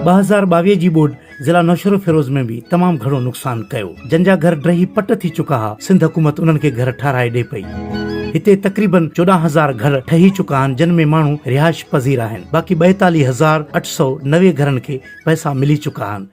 ٻه هزار ٻاويهه جي ٻوڏ ضلع نوشهروفيروز ۾ به تمام گهڻو نقصان ڪيو جن جا گهر ڊهي پٽ ٿي چڪا ها سنڌ حڪومت انهن کي گهر ٺهرائي ڏي پئي هتي تقريبن چوڏهن هزار گهر ٺهي چڪا آهن جن ۾ ماڻهو رهائش پذير آهن باقي ٻائيتاليهه هزار اٺ سؤ نوي گهرن کي پئسا ملي چڪا آهن.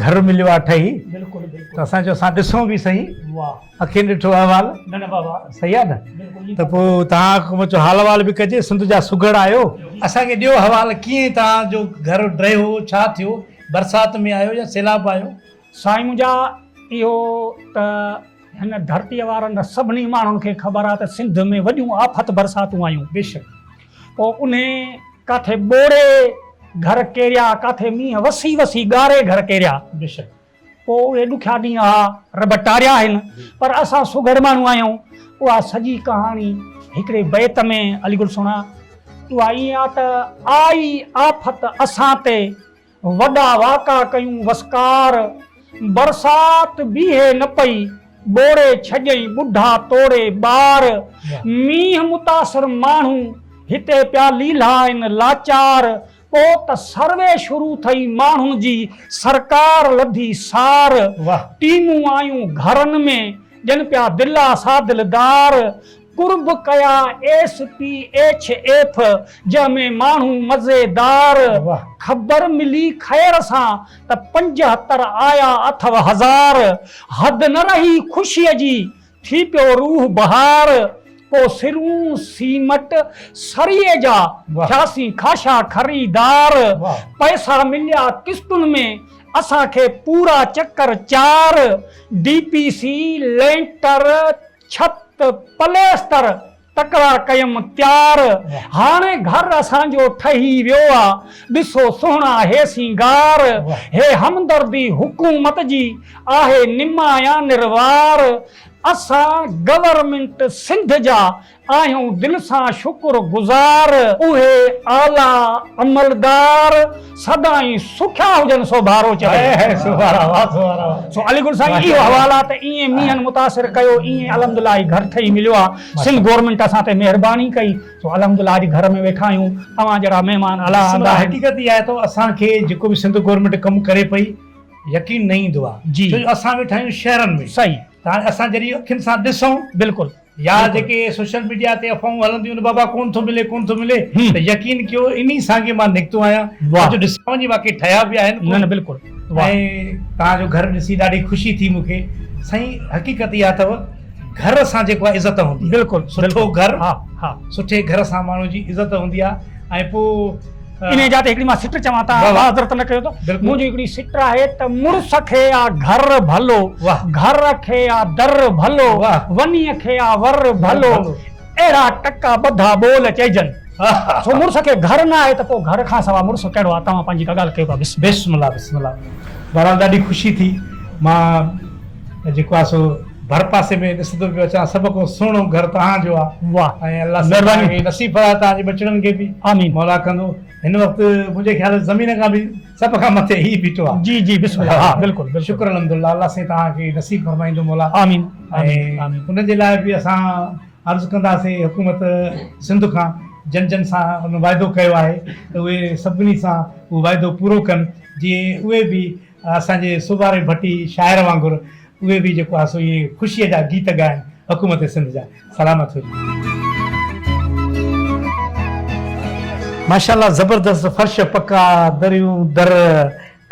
گهر مليو آ ٺهي ته اسان چيو اسان ڏسون به سهي اکين ڏٺو احوال سهي آ نه ته پوء توهان حڪومت جو حال احوال به ڪجي سنڌ جا سگهڙ آهيو اسان کي ڏيو حوال ڪيئن توهان جو گهر ڊهيو ڇا ٿيو برسات ۾ آهيو يا سيلاب آهيو. سائين منهنجا اهو ته هن ڌرتيء وارن سڀني ماڻهن کي خبر آ ته سنڌ ۾ وڏيون آفت برساتون آيون بيشڪ پوء انهي ڪاٿي ٻوڙي گهر ڪيريا، ڪاٿي مينهن وسي وسي ڳاري گهر ڪيريا. بيشڪ پوء اهي ڏکيا ڏينهن اها رب ٽاريا آهن، پر اسان سگهڙ ماڻهو آهيون. اها سڄي ڪهاڻي هڪڙي بيت ۾ علي گل سهڻا اها ائين آ ته آئي آفت اسان تي. وڏا واڪا ڪيون وسڪار، برسات بيهي نه پئي، ٻوڙي ڇڄئي ٻڍا توڙي ٻار، مينهن متاثر ماڻهو هتي پيا ليلها آهن لاچار، پو ته سروي شروع ٿئي ماڻهن جي، سرڪار لڌي سار، ٽيمون آيون گهرن ۾ ڏين پيا دلا سا دلدار، قرب ڪيا ايس پي ايڇ ايف جنهن ۾ ماڻهو مزي دار خبر ملي خير سان ته پنجهتر آيا اٿو هزار حد نه رهي خوشي جي ٿي پيو روح بهار پو سرون سيمٽ سريئي جا ٿياسين خاشا خريدار پئسا مليا قسطن ۾ اسان کي پورا چڪر چار ڊي پي سي لينٽر ڇت، پليستر تڪرار ڪيم تيار، هاڻي گهر اسان جو ٺهي ويو آ، ڏسو سهڻا هي سينگار، هي همدردي حڪومت جي آهي نمايان نروار، اسان گورنمينٽ سنڌ جا آهيون دل سان شڪر گذار. اهي اعليٰ عملدار سدائين سکيا هجن سو بارو چوي. سو علي گل سائين اهو حوالا ته ايئن مينهن متاثر ڪيو ايئن الحمدلله اڄ گهر ٺهي مليو آ سنڌ گورنمينٽ اسان تي مهرباني ڪئي سو الحمدلله اڄ گهر ۾ ويٺا آهيون اوهان جهڙا مهمان الله ادا آهن. حقيقت اها آهي ته اسان کي جيڪو به سنڌ گورنمينٽ ڪم ڪري پئي يقين نه ايندو آ ڇو جو اسان ويٺا آهيون شهرن ۾ ته هاڻي اسان جڏهن اکين سان ڏسون بلڪل يا جيڪي سوشل ميڊيا تي افواهون هلنديون آهن بابا ڪونه ٿو ملي ڪونه ٿو ملي ته يقين ڪيو انهي سانگي مان نڪتو آهيان اڄ ڏسان جي واقعي ٺهيا به آهن ڪونه ۽ توهان جو گهر ڏسي ڏاڍي خوشي ٿي مون کي سائين حقيقت اها اٿو گهر سان جيڪو آهي عزت هوندي آهي سٺو گهر سٺي گهر سان ماڻهو جي عزت هوندي آهي ۽ پوء انهيء جاء تي هڪڙي مان سٽ چوان ته آء معذرت نه ڪيو ته منهنجي هڪڙي سٽ آهي ته مڙس کي آ گهر ڀلو، گهر کي آ در ڀلو، ونيء کي آ ور ڀلو، اهڙا ٽڪا ٻڌا ٻول چئجن. سو مڙس کي گهر نه آهي ته پوء گهر کان سوا مڙس ڪهڙو آ؟ توهان پنهنجي ڪا ڳالهه ڪيو ڪا بسم الله. بسم الله بسم الله بهرحال ڏاڍي خوشي ٿي مان جيڪو آ سو. ڀرپاسي ۾ ڏسندو پيو اچان سڀ کان سهڻو گهر توهان جو آ ۽ الله سائين توهان کي نصيب فرمائي توهان جي ٻچڙن کي به مولا ڪندو هن وقت منهنجي خيال ۾ زمين کان به سڀ کان مٿي هي بيٺو آ جي جي بسم الله ها بلڪل شڪر الحمدالله الله سائين توهان کي نصيب فرمائيندو مولا آمين آمين ان جي لاء به اسان عرض ڪنداسي حڪومت سنڌ کان جن جن سان ان واعدو ڪيو آهي ته اهي سڀني سان اهو واعدو پورو ڪن جي اهي به اسان جي سوڀاري ڀٽي شاعر وانگر اهي به جيڪو آهي سو اهي خوشيء جا گيت ڳائن حڪومت سنڌ جا سلامت هجن. ماشاءالله زبردست فرش پڪا دريون در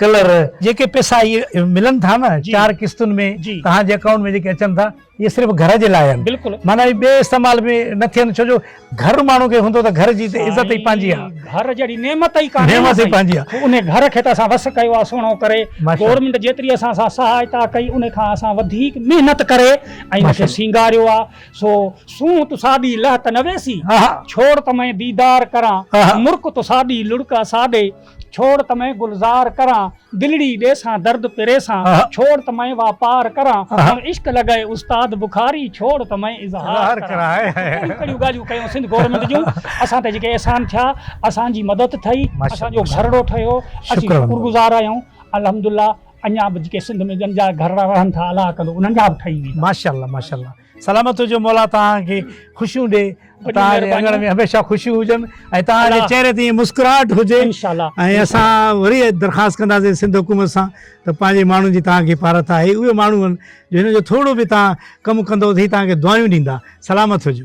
ڪلر. جيڪي پئسا اهي ملن ٿا نه چار قسطن ۾ توهان جي اڪائونٽ ۾ جيڪي اچن ٿا اهي صرف گهر جي لاء آهن معنيٰ اهي ٻئي استعمال ۾ نه ٿين ڇو جو گهر ماڻهو کي هوندو ته گهر جي ته عزت ئي پنهنجي آهي گهر جهڙي نعمت ئي ڪانهي نعمت ئي پنهنجي آهي ان گهر کي ته اسان وس ڪيو آهي سهڻو ڪري گورنمينٽ جيتري اسان سان سهائتا ڪئي ان کان اسان وڌيڪ محنت ڪري ۽ ان کي سينگاريو آهي سو سونهن تو ساڏي لهه ته نه ويسي ڇوڙ ته مئن ديدار ڪران مرڪ تو ساڏي لڙڪ اساڏي ڇوڙ ته مئين گلزار ڪران، دلڙي ڏيسان درد پريسان، ڇوڙ ته مئين واپار ڪران، هن عشق لڳئي استاد بخاري، ڇوڙ ته مئين اظهار ڪران. ڪهڙيون ڪهڙيون ڳالهيون ڪيون سنڌ گورنمينٽ جون، اسان تي جيڪي احسان ٿيا، اسان جي مدد ٿئي، اسان جو گهرڙو ٺهيو، اسين شڪر گذار آهيون، الحمدالله اڃا به جيڪي سنڌ ۾ ڄن جا گهرڙا رهن ٿا الله ڪندو انهن جا به ٺهي ويندا. ماشاءالله ماشاءالله سلامت هجو مولا توهان کي خوشيون ڏي توهان جي اڱڻ ۾ هميشه خوشيون هجن ۽ توهان جي چهري تي ائين مسڪراهٽ هجي ۽ اسان وري درخواست ڪنداسين سنڌ حڪومت سان ته پنهنجي ماڻهن جي توهان کي پارت آهي اهي ماڻهو آهن جو هنن جو ٿورو به توهان ڪم ڪندو ته هي توهان کي دعايون ڏيندا سلامت هجو